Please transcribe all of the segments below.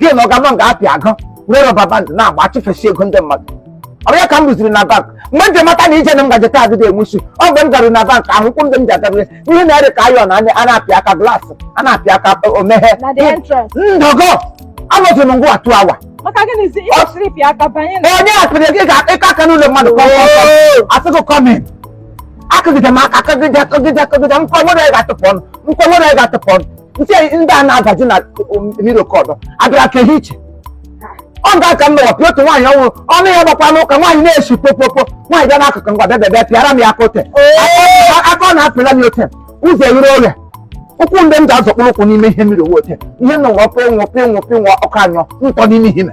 gị na ọga nọ nga apịa agụ were rubber band na-agba achụfesi ego ndị mmadụ ọ ya ka m ruziri na bank mgbe m ji mata na ije na m gaje taa adịghị enwe isi ọ mgbe m garuru na bank ahụ ụkwụ ndị m ji agarịrị ihe na-ere ka ayọn anya a na-apịa aka glaasị a na-apịa aka omeghe ndọgọ anọzi m nga two hours onye akpịrị gị ga-akpịka aka n'ụlọ mmadụ a sị gị come in akụgide m aka akụgide akụgide akụgide nkwa nwere ga-atụpụ ọnụ nkwa nwere ga-atụpụ ọnụ ntị ndị a na-adaju na mmiri oke ọdọ abịara ka ihe iche ọ ga aka mmewa pịa otu nwaanyị ọhụrụ ọnụ ya gbakwa n'ụka nwaanyị na-esi kpokpokpo nwaanyị bịa n'akụkụ ngwa bịa bịa pịara m ya aka ote aka ọ na-apịla m ote ụzọ ewere oge ụkwụ ndị m ga-azọkpụrụ ụkwụ n'ime ihe mmiri owote ihe m na nwa pịnwụ pịnwụ pịnwụ ọkụ anyọ nkọ n'ime ihe ime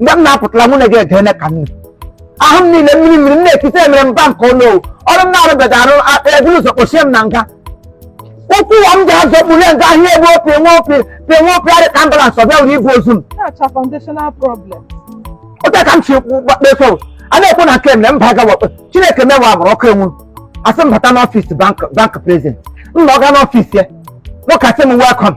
mgbe m na-apụtara mụ na gị ege ene ka nne ahụ m niile mmiri mmiri m na-ekite emere bank ọnụ ọ wụ ọrụ m na-arụbeghị arụ eburu ụzọ kpochie m na nga ụkwụ ụwa m ji azọkpụrụ nga ahịa ebe opi nwe opi pịa nwe opi arị ka ambulans ọ bịawuru ibu ozu m na-acha foundational problem otu a ka m chi gbakpeso a na-ekwu na nke m na mba aga wakpe chineke mewa agbụrụ ọkụ enwu a sị m bata n'ọfịs bank bank president m na ọga n'ọfịs ya nwoke a sị m welcome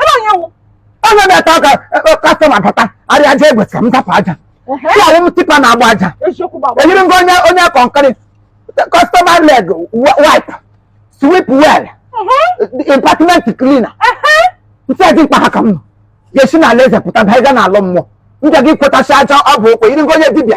ebe onye wụ onye na-ete ọka customer e, e, bata arịa aja egwe ka m tapụ aja awụ m tipper na-agba aja eyiri m gị onye kọnkịrị customer leg wipe sweep well department cleaner ntị adị mkpa ha ka m nọ ga-esi n'ala eze pụta baa ịga n'ala mmụọ m ga gị kpotacha aja ọ bụ okwe yiri gị onye dibịa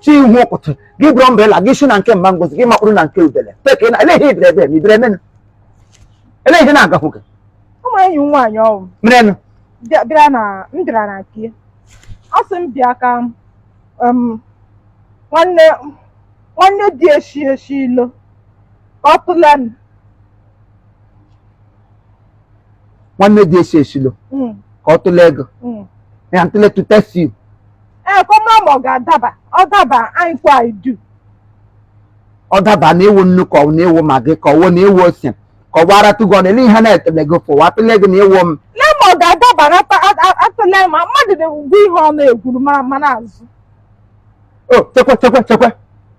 chi ihu ụkụtụ gị buru umbrella gị shi na nke mama Ngozi gị makpụrụ na nke udele teke na eleghị ibere ebe ma ibere menụ eleghị ihe na-agahụ gị ụmụ enyi m nwaanyị ọ wụ merenụ bịa- bịara na m bịara na nke ya. ọ sị m bịa ka m, em, nwanne nwanne dị eshi eshi ilo ka ọ tụle m nwanne dị esi esilo Mm, ka ọ tụle gị mm. ya ntụle to test you ee ka ọ mara ma ọ ga-adaba ọ daba anyị kwa anyị du ọ daba na ị wụ nnu ka ọ na ị wụ Maggi ka ọ wụ na ị wụ ose ka ọ gbara tụgọ na ele ihe na-etele gị fụ wa tụle gị na ị wụ m lee ma ọ ga-adaba na ata- a- a- atụle ma mmadụ na-egwu ihe ọ na-egwuru mara ma na-azụ o chekwe chekwe chekwe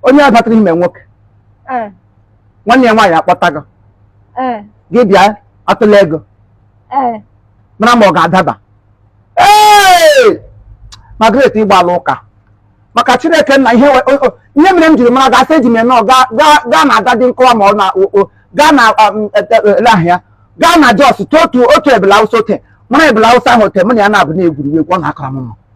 onye a batara ime nwoke ee nwanne ya nwaanyị akpọta gị ee gị bịa atụle gị ee mara ma ọ ga-adaba ee Margaret ịgbala ụka maka Chineke nna ihe we- o- o- ihe mere m jiri mara gasị eji m enọ gaa gaa- gaa na Dadin Kowa ma ọ na o- o- gaa na um, e- e- elee aha ya gaa na Jos tụọ otu otu ebele Awụsa ote mụ na ebele Awụsa ahụ ote mụ na ya na-abụ na-egwuri egwu ọ na-akara m mma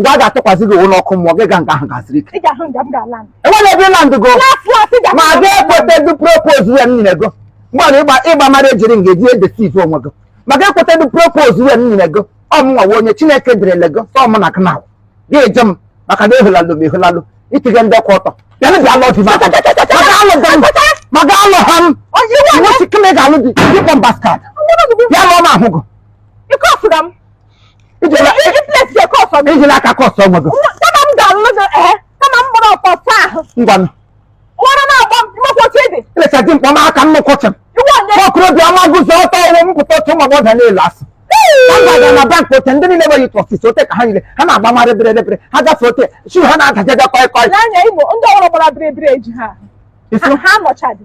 nga a ga-atụkwasị gị ụlọ ọkụ mmụọ gị ga nga ahụ gasịrị ike enwere ebe ịla ndụ go ma ga ekweta dị propose ya nyere go mgbe ịgba ịgba mara ejiri nga eji edeceive onwe gị ma ga ekweta dị propose ya nyere go ọmụnwa nwa onye chineke derele go sọ mụ na gị na gị eje m maka na ehulalụ m ehulalụ itige ndị kwụ ọtọ bịa bịa lụọ di maka alụ di m maka alụ ha m nwochi kịmị ga-alụ di dịkpọ bastard bịa lụọ m ahụ gị ijela aka kọsụ ọnwa gị kama m ga-alụ gị ee kama m gbara ọkọ ọsọ ahụ ngwanụ nwere na-agba mkpọchi dị ileta di mkpọ n'aka nnukwu chi m okorobịa ọma guzo ọtọ ọrụ m pụta otu ụmụ agbọghọ niile asị aga na bank ote ndị niile nwere ịtụ office ote ka ha niile ha na-agba marị bere bere ha gafe ote shoe ha na-adajaja kọị kọị n'anya igbo ndị ọrụ gbara bere bere eji ha ha nọchadị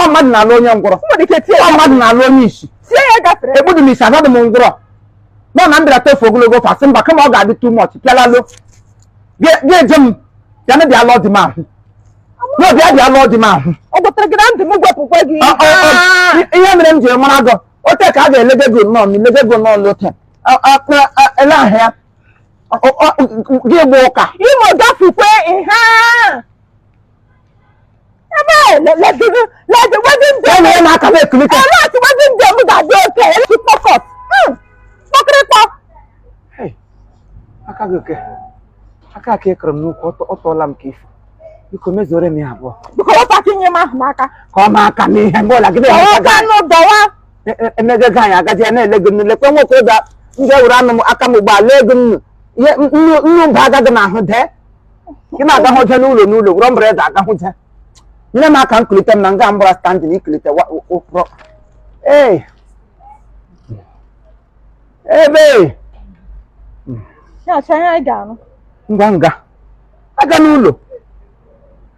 ọ mmadụ na-alụ onye ngwọrọ Mmadụ ike tie ọ mmadụ na-alụ onye isi tie ya gafere. ekpudu m isi anadị m ngwọrọ nọ na m bịara tofu ogologo ofe asị mba kama ọ ga-adị too much pịalalo gị eje m ya na bịa lụọ di m ahụ na bịa bịa lụọ di m ahụ Ọ gwatara gị na ndụ m gwepụkwa gị. Ọ- ọ- ọ- Ah! i- ihe mere m jiri mara gị ote ka a ga-elege gị nnọọ ma ilege gị nnọọ n'ote A- a- a- a- ele ahụ ya Ọ- ọ- ọ- gị gba ụka Imo gafukwe ihe a. aka ka ị kụrụ m n'ukwu ọ tụọla m ka ifu biko mezuore m ya abụọ ka ọ ma aka m ihe mgbe ọla gị emego ego anyị agaji ya na-ele gị nnu lekwe nwoke ụda ndị ewuru anụ m aka m ugbu a lee gị nnu nnu mba agaghị n'ahụ dee ị na-agahụje n'ụlọ n'ụlọ wụrọ mbere eze agahụje nyere m aka m kulite m na nga mbara standing ikulite wa- wa- ụkpụrụ ee ebe Ya achọ ihe anyị ga-anụ. ngwa nga aga n'ụlọ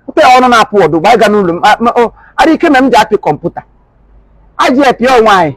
pụta ya ọnụ na-apụ ọdụ gba aga n'ụlọ m a- ma- o, ara ike mere m ji apị kọmputa aji apị onwe anyị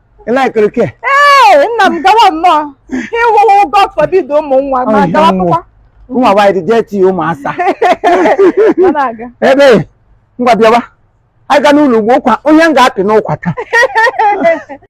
ị likere ke ee nna m gawa nnọọ ịwụwụ god forbid ụmụ nwa ma Ọhịa gawa nwa. pụkwa ụmụ nwaanyị dị dirty ụmụasa ma na-aga ebe ngwa bịawa anyị ga n'ụlọ ugbo ụkwa onye m ga-apị n'ụkwa taa